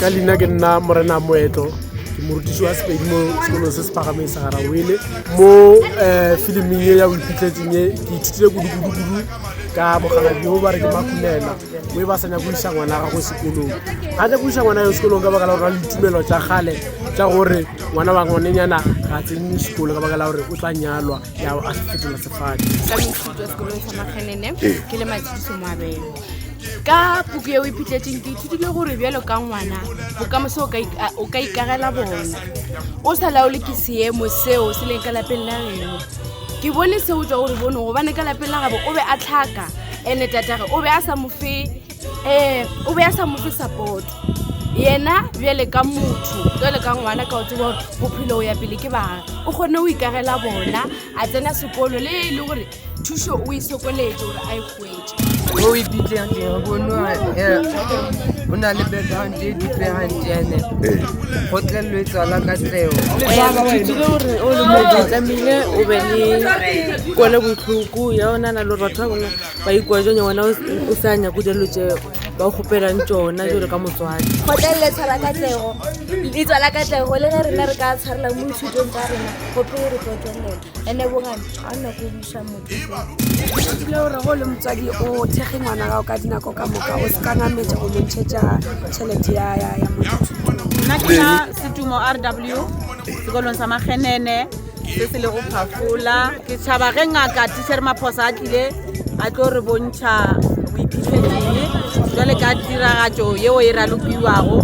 ka leina ke nna morena moetlo ke morutiši wa sepedi mo sekolong se se pagameng sa garawele mo um eh, filiming e ya o iphitlhetseng e ke ithutile kudukudukudu ka bogaladi bo ba re ke makunela mo e ba sanya go isa ngwana gago sekolong ga ke go isa ngwana yo sekolong ka baka la gore na le ditumelo tsa gale tsa gore ngwana wa ngonenyana ga tsene sekolo ka baka la gore o tla nyalwa ya a se fetola sefane ka mešitwa sekolong sa magenene ke le matshidiso moabelo ka puku yeo e phitletseng ke ithutile gore bjalo ka ngwana bokamoso o ka ik- a- o ka ikagela bona o sa laole ke seemo seo se leng ka lapeng la geno ke bone seo jwa gore bono gobane ka lapeng la gabo o be a tlhaka ene tatagwe o be a sa mo fe ee o be a sa mofe support yena bjale ka motho jale ka ngwana ka o tseba gore bophelo o ya pele ke baga o kgone o ikagela bona a tsena sekolo le e le gore thuso o e sokoletse gore a e kgwetse o ipitlegeng bono o na le background e dipeganjene go tlelwetswa la ka tseo ithutile gore o le motho tlamehile o be le kole botlhoko ya ona na le gore batho ba bangwe ba ikwa jone wena o sa nyako dilo tse ba kgopelang tsona jalo ka motswadi kgotlelele tshwara katlego e tswala katlego le ge rena re ka tshwarela mo dithutong tsa rena gope re tlo tswelela ene bogane a nna ko busa motsotile gore go le motswadi o thekge ngwana gago ka dinako ka moka o se ka nametse go montšhetša tšhelete ya ya ya motho nna ke na setumo r w sekolong sa magenene se se lego phafola ke tšhaba ge ngaka tishere maphosa a tlile a tlo re bontšha boiphihletseng jale ka tiragatšo yeo e ralokiwago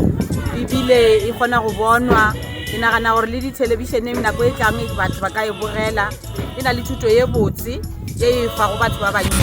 ebile e kgona go bonwa ke nagana gore le dithelebišeneng nako e tlang batho ba ka e bogela e na le thuto ye botse e e fa go batho ba bantsi